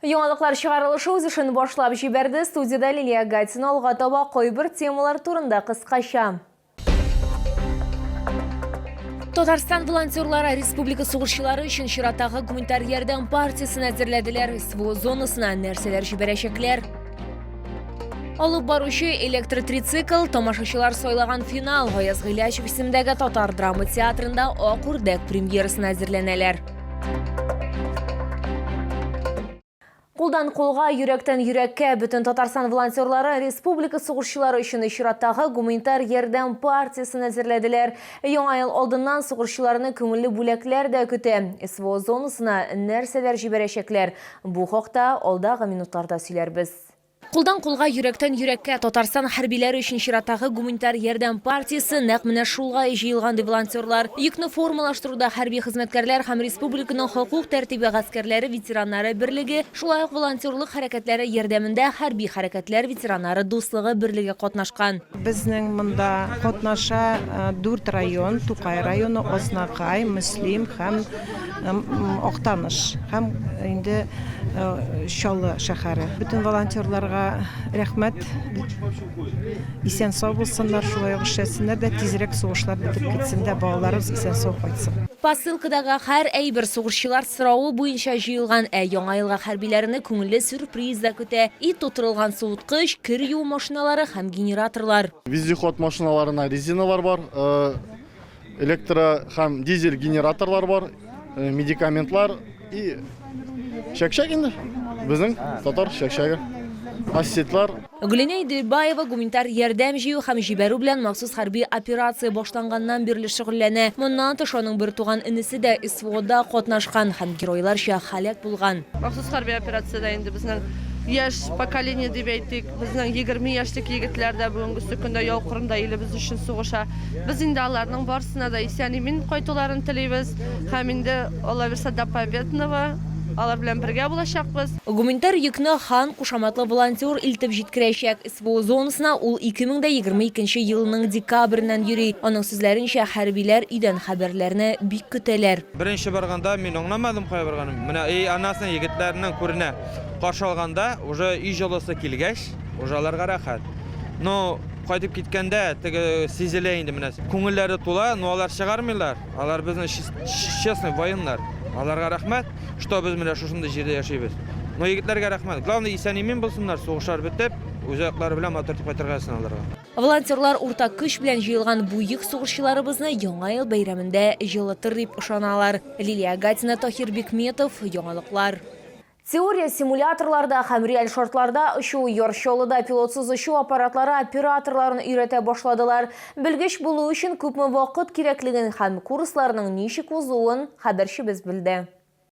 Яңалыклар чыгарылышы үз эшен башлап җибәрде. Студиядә Лилия Гатина алга таба кайбер темалар турында кыскача. Татарстан волонтерлары республика сугышчылары өчен чираттагы гуманитар ярдәм партиясен әзерләделәр. СВО зонасына нәрсәләр җибәрәчәкләр? Алып баручы электротрицикл, тамашачылар сайлаган финал Гаяз Гыйләчев исемендәге татар драма театрында Ак үрдәк премьерасына әзерләнәләр. Кулдан кулга, йөрәктән йөрәккә бөтен Татарстан волонтерлары республика сугышчылары өчен чираттагы гуманитар ярдәм партиясен әзерләделәр. Яңа ел алдыннан сугышчыларны күңелле бүләкләр дә көтә. СВО зонасына нәрсәләр җибәрәчәкләр? Бу хакта алдагы минутларда сөйләрбез. Кулдан кулга, йөрәктән йөрәккә Татарстан хәрбиләре өчен чираттагы гуманитар ярдәм партиясе нәкъ менә шулай җыелган, ди волонтерлар. Йөкне формалаштыруда хәрби хезмәткәрләр һәм республиканың хокук тәртибе гаскәрләре ветераннары берлеге, шулай ук волонтерлык хәрәкәтләре ярдәмендә хәрби хәрәкәтләр ветераннары дуслыгы берлеге катнашкан. Безнең монда катнаша дүрт район, Тукай районы, Азнакай, Мөслим һәм. Актаныш һәм инде Чаллы шәһәре. Бөтен волонтерларга рәхмәт. Исән-сау булсыннар, шулай ук эшләсеннәр дә, тизрәк сугышлар бетеп китсен дә, балаларыбыз исән-сау кайтсын. Посылкадагы һәр әйбер сугышчылар соравы буенча җыелган, ә Яңа елга хәрбиләрне күңелле сюрприз да көтә, ит тутырылган суыткыч, кер юу машиналары һәм генераторлар. Вездеход машиналарына резиналар бар. электро һәм дизель генераторлар бар, э, медикаментлар и чәкчәк инде. Безнең татар чәкчәге. Ассетлар. Гөлинә Иделбаева гуманитар ярдәм җыю һәм җибәрү белән махсус хәрби операция башланганнан бирле шөгыльләнә. Моннан тыш аның бер туган энесе дә СВОда катнашкан һәм геройларча һәлак булган. Махсус хәрби операциядә инде безнең яшь поколение дип әйтик, Безнең егерме яшьлек егетләр дә бүгенгесе көндә яу кырында илебез өчен сугыша. Без инде аларның барсына да исән-имин кайтуларын телибез һәм инде аллабирса до победного алар белән бергә булачакбыз. Гуманитар йөкне Хан кушаматлы волонтер илтеп җиткерәчәк. СВО зонасына ул 2022 елның декабреннән йөри. Аның сүзләренчә, хәрбиләр өйдән хәбәрләрне бик көтәләр. Беренче барганда мин аңламадым кая барганын. Менә и аннасына егетләрнең күренә каршы алганда уже өй җылысы килгәч, уже аларга рәхәт. Ну, кайтып киткәндә теге сизелә инде менә. Күңелләре тула, но алар чыгармыйлар. Алар безнең честный военнар. Аларга рәхмәт, что без менә шушындый җирдә яшибез. Но егетләргә рәхмәт. Главный исән-имин булсыннар, сугышлар бетеп, үз аяклары белән матур итеп кайтырга язсын аларга. Волонтерлар уртак көч белән җыелган буйык сугышчыларыбызны Яңа ел бәйрәмендә җылытыр дип ышаналар. Лилия Агатина, Таһир Бикметов, Яңалыклар. Теория симуляторларда һәм реаль шартларда очу, Яр Чаллыда пилотсыз очу аппаратлары операторларын өйрәтә башладылар. Белгеч булу өчен күпме вакыт кирәклеген һәм курсларның ничек узуын хәбәрчебез белде.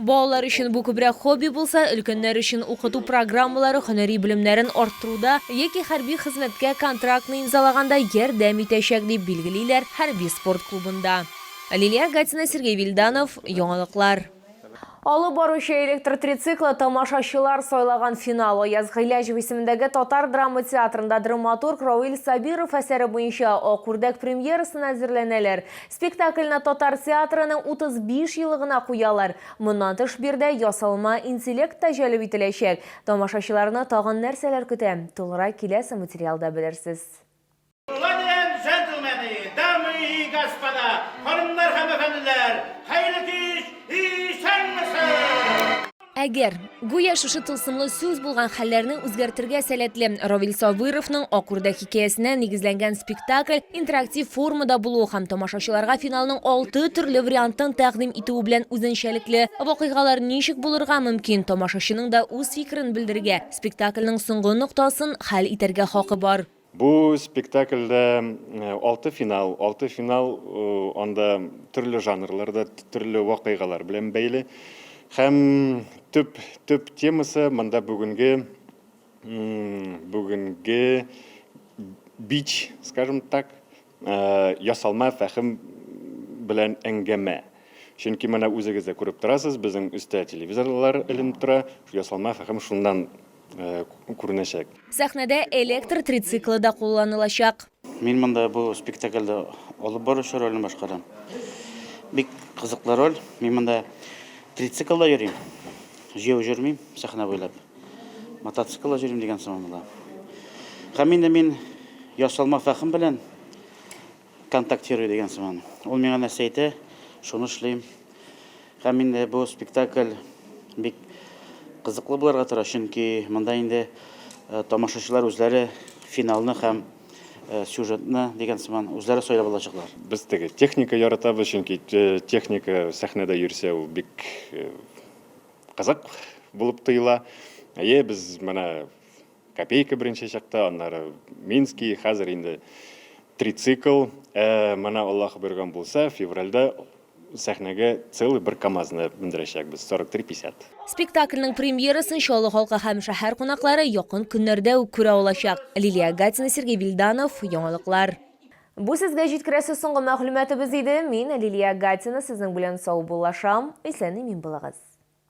Балалар өчен бу күбрәк хобби булса, өлкәннәр өчен укыту программалары һөнәри белемнәрен арттыруда яки хәрби хезмәткә контрактны имзалаганда ярдәм итәчәк, дип билгелиләр хәрби спорт клубында. Лилия Гатина, Сергей Вильданов, Яңалыклар. Алып баручы электр трициклы тамашачылар сайлаган финал Аяз Гыйләҗев исемендәге татар драма театрында драматург Равил Сабиров әсәре буенча Ак үрдәк премьерасына әзерләнәләр. Спектакльне татар театрының 35 елыгына куялар. Моннан тыш биредә ясалма интеллект та җәлеп ителәчәк. Тамашачыларны тагын нәрсәләр көтә? Тулырак киләсе материалда белерсез. Леди энд джентльмены, дамы и господа, ханымнар һәм әфәнделәр, хәерле кич, исәнмесез! Әгәр. Гүя шушы тылсымлы сүз булган хәлләрне үзгәртергә сәләтле Равил Сабыровның Ак үрдәк хикәясенә нигезләнгән спектакль интерактив формада булуы һәм тамашачыларга финалның алты төрле вариантын тәкъдим итүе белән үзенчәлекле вакыйгалар ничек булырга мөмкин, тамашачының да үз фикерен белдерергә, спектакльнең соңгы ноктасын хәл итәргә хакы бар. Бу спектакльдә алты финал, алты финал анда төрле жанрларда, төрле вакыйгалар белән бәйле. Һәм төп төп темасы монда бүгенге бүгенге бич, скажем так, ясалма фәһем белән әңгәмә. Чөнки менә үзегез дә күреп торасыз, безнең өстә телевизорлар эленеп тора, ясалма фәһем шуннан күренәчәк. Сәхнәдә электр трициклы да кулланылачак. Мин монда бу спектакльдә алып баручы ролен башкарам. Бик кызыклы роль. Мин монда трициклда йөрим. Җәяү җөрмим, сәхнә буйлап. Мотоциклла җөрим дигән сыман була. Һәм инде мин ясалма фәхем белән контактирую дигән сыман. Ул миңа нәрсә әйтә, шуны эшлим. Һәм инде бу спектакль бик кызыклы булырга тора, чөнки монда инде тамашачылар үзләре финалны һәм Э, сюжетны деген сыман үзләре сайлап алачаклар. Без теге техника яратабыз, чөнки э, техника сәхнәдә йөрсә ул бик э, кызык булып тоела. Әйе, без менә копейка беренче чакта, аннары Минский, хәзер инде трицикл. Ә менә Аллаһ биргән булса, февральдә Сәхнәгә целый бер КАМАЗны мендерәчәкбез, 43-50. Спектакльнең премьерасын Чаллы халкы һәм шәһәр кунаклары якын көннәрдә үк күрә алачак. Лилия Гатина, Сергей Вильданов, Яңалыклар. Бу сезгә җиткерәсе соңгы мәгълүматыбыз иде. Мин, Лилия Гатина, сезнең белән саубуллашам. Исән-имин булыгыз.